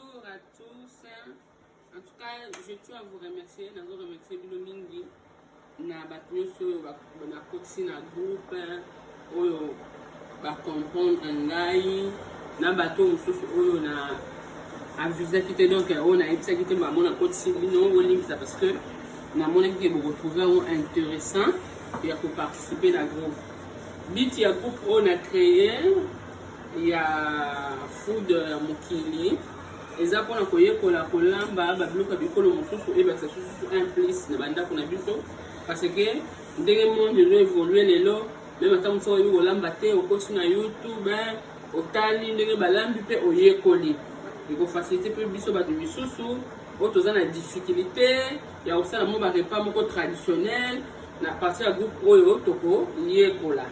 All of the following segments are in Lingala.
Bonjour à tous. En tout cas, je tiens à vous remercier. Nazo remercier bino mingi na bato nyonso oyo nakotisi na groupe oyo bacomprendre ngai na bato mosusu oyo na avisaki te donc oyo nayebisaki te bango nakotisi bino olimbisa parce que namonaki ke bokotrouve yango intéressant ya koparticipe na groupe but ya groupe oyo na créer ya foudre ya mokili eza mpona koyekola kolamba babiloko ya bikolo mosusu ebakisa sususu un plus na bandako na biso parce que ndenge monde ezo évolue lelo meme ata mosu oyebi kolamba te okosi na youtube otali ndenge balambi mpe oyekoli ekofasilite mpe biso bato misusu oyo toza na difficulté ya kosala mo barepas moko traditionnel na partir ya groupe oyo tokoyekola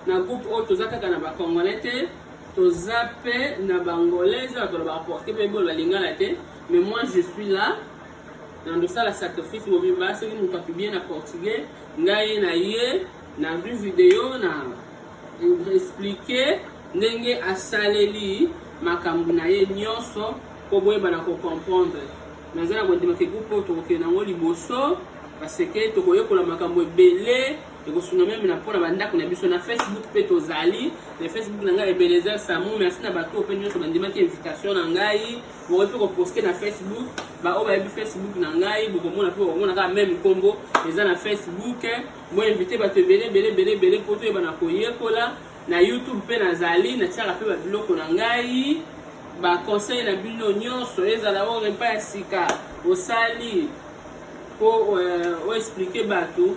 Na groupe oyo toza kaka na ba congolais te, toza pe na ba angolais, eza bato balobaka portugais pe boloba lingala te, mais moi je suis là na ndosala sacrifice mobimba soki moto apiblie na portugais ngai na ye na vue video na explike ndenge asaleli makambo na ye nyonso mpo boyebana kocomprendre naza na kondima ke groupe oyo tokokende yango liboso parce que tokoyekola makambo ebele ekosunga meme na mpo na bandako na biso na facebook mpe tozali na facebook na ngai ebenezer samu merci na bato mpe nyonso bandimaki invitation na ngai bokoki mpe koposte na facebook baoyo bayebi facebook na ngai bokomona mpe bokomona kaka meme nkombo eza na facebook boinvite bato ebele ebele ebele ebele mpo toyeba na koyekola na youtube mpe nazali natiaka mpe babiloko na ngai baconseil na bino nyonso ezala oyo epai ya sika osali mpo euh, oexplike bato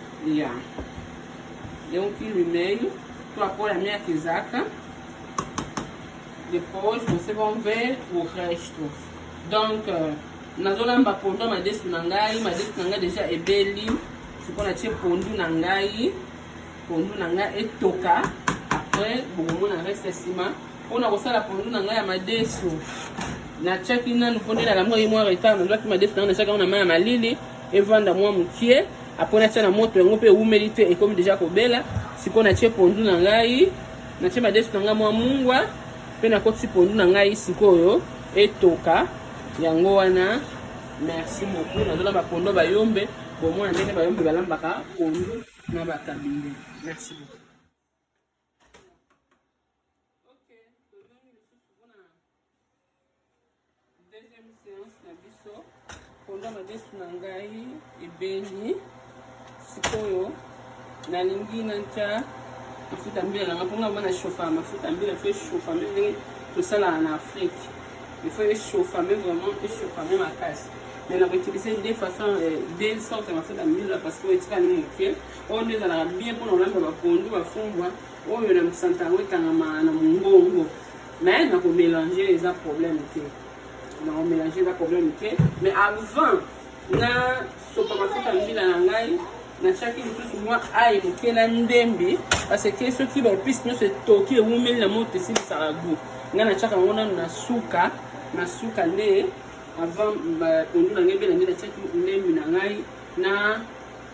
ya donc lumei to akola miaka ezaka depois você vão ver o resto donc euh, nazolamba pondu ya madesu na ngai madesu na ngai deja ebeli sikoyo natie pondu na ngai pondu na ngai etoka apres bokomona reste ya nsima mpona kosala pondu na ngai ya madesu natiaki nanu mpo nde nalamuaki mwa retard nazwaki madesu na ngai natiaki yango na mai ya malili evanda mwa mokie apres natya na moto yango mpe ewumeli te ekomi deja kobela sikoyo natye pondu na ngai natye madesu na ngai mwa mungwa mpe nakotisi pondu na ngai sikoyo etoka yango wana merci beaucoup nazona bapondo bayombe bomona ndenge bayombe balambaka pondu na bakabinde merci beaucoup ok tozongi lisusu mpona deuxième séance na biso mponda madesu na ngai ebeli sikoyo nalingi natya mafuta mbila nanga mpo ngai bana chauffa mafuta mbila fo echauffa mpe ndenge tosalaka na afrique il faut echauffa mpe vraiment echauffa mpe makasi mais na koutiliser deux façon euh, deux sorte mafuta mbila parce que oyo etikali moke oyo nde ezalaka bien mpona kolamba bapondu bafumbwa oyo na mosanta yango ekangama na mongongo mais na komélange eza problème te na komélange eza problème te mais avant na sopa mafuta mbila na ngai natiaki lisusu mwa aye moke na ndembe parce que soki baepice nyonso etoki ewumeli na moto esilisaka gout ngai natiaka yango nano na suka na suka nde avant pondu na ngai ebela nde natiaki ndembe na ngai na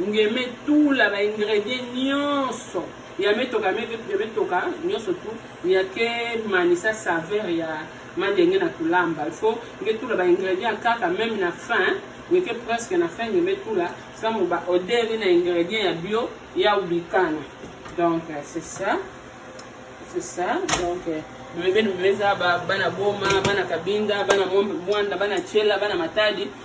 ngeme tula ba ingredient nyonso ya metoka ya metoka nyonso tu ya ke manisa saveur ya mandenge na kulamba il faut nge tula ba ingredient kaka meme na fin ngeke presque na fin ngeme tula samu ba odeur na ingredient ya bio ya ubikana donc euh, c'est ça c'est ça donc euh, bebe meza bana boma bana kabinda bana mwanda bana chela bana matadi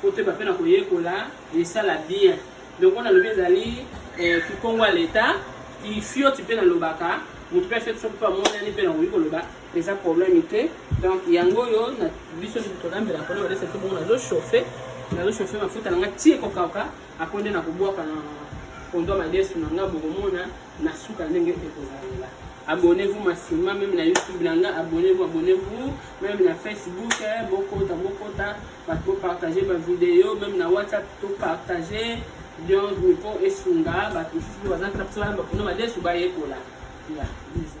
kotoyeba mpe na koyekola esala bien donc wana alobi ezali eh, kikongo ya leta ifioti mpe nalobaka moto mpe afeti soki mpe amonani mpe nakoki koloba eza problème te donc yango oyo na biso tolambela mpona balesa te bongo nazochauffe nazochauffe mafuta na nga tie kokauka ako nde nakobwaka na kondo madesu na nga bokomona na suka ndenge ekozalela abonnez-vous massivement même na youtube na nga abonnez-vous abonnez-vous même na facebook eh, bokota bokota bato bopartage bavideo meme na whatsapp topartage bienvenu mpo esunga bato mosusu baza mpena mposa bayamba kuna badesu bayekola ya biza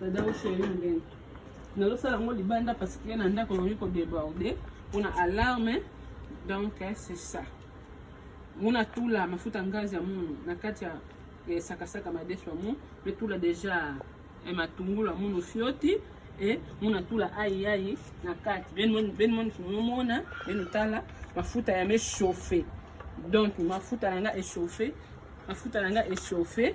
dada osheri ndenge nazosala yango libanda parce que na ndako ekoki kodeborde mpona alarme donc eh, c'est ça mona tula mafuta ngazi ya munu na kati ya eh, sakasaka madesu ya mu mpe tula deja eh, matungulu ya munu fioti e mona tula ayiayi na kati benmona benotala mafuta ya mechauffe donc mafuta na nga echauffe mafuta na nga echauffe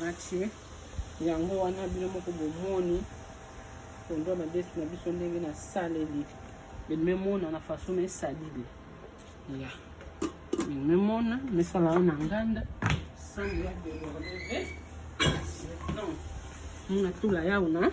natie yango wana bino moko bomoni pondu ya madesu na biso ndenge nasaleli bememona na faso na esalili ya bememona mesala wana nganda sango ya beloreve mona tula yauna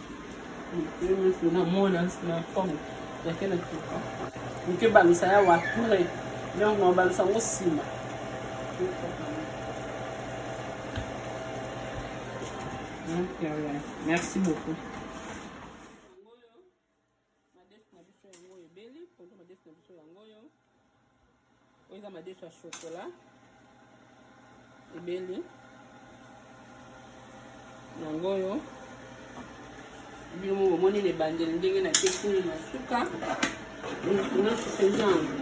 na mona na fond yake na tuka oke balusa ya wapure donc na balusa yango nsima merci beaucoup madesu na biso yango oyo ebeli ponto madesu na biso yango oyo oyo eza madesu ya shokola ebeli yango oyo bino moko omoni na ebandeli ndenge na tekuni na suka nasusenza yango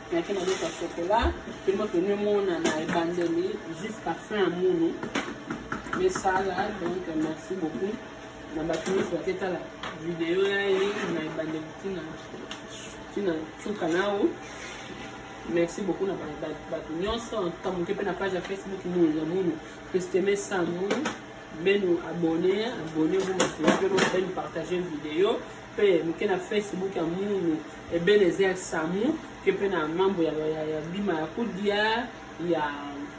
nayaki na loko ya sokola mpe moto nemona na ebandeli jusqu'à fin ya munu mesala donc merci beaucoup na bato nyonso baketala video ya ye na ebandeli ntina ntina suka nao merci beaucoup na bato nyonso antuka moke mpe na page ya facebook munu ya munu christeme samu benu abonne abonne vous mpe bopene partage video mpe moke na facebook ya munu ebenezer samu ke mpe na mambo ya, ya, ya bima ya kudia ya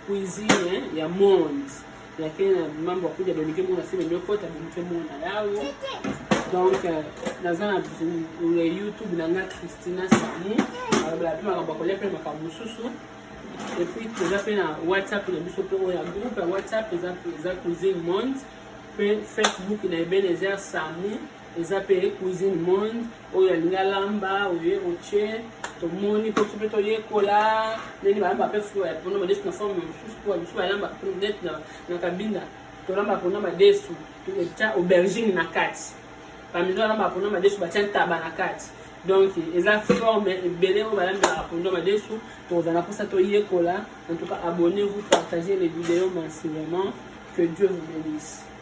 cuisine ya monde yake na mambo ya kudia bemike mona se bemekota bemike mona yawo donc euh, naza na youtube na nga christina samu alobela mpe makambo ya kolia mpe makambo mosusu epuis toza mpe na whatsapp na biso mpe oyo ya groupe ya whatsapp eza cuisine monde mpe facebook na ebenezer samu eza mpe cuisine monde oyo alingi alamba oye otie tomoni mpe mpe toyekola ndenge balamba mpe fulu ya mpono madesu na forme mosusu mpo mosusu balamba neti na kabinda tolamba mpona madesu etya aubergine na kati bamizo balamba mpona madesu batya ntaba na kati donc eza forme ebele oyo balambelaka mpondo madesu tokozala mposa toyekola en tout cas abonnez vous partagez les vidéos massivement que dieu vous bénisse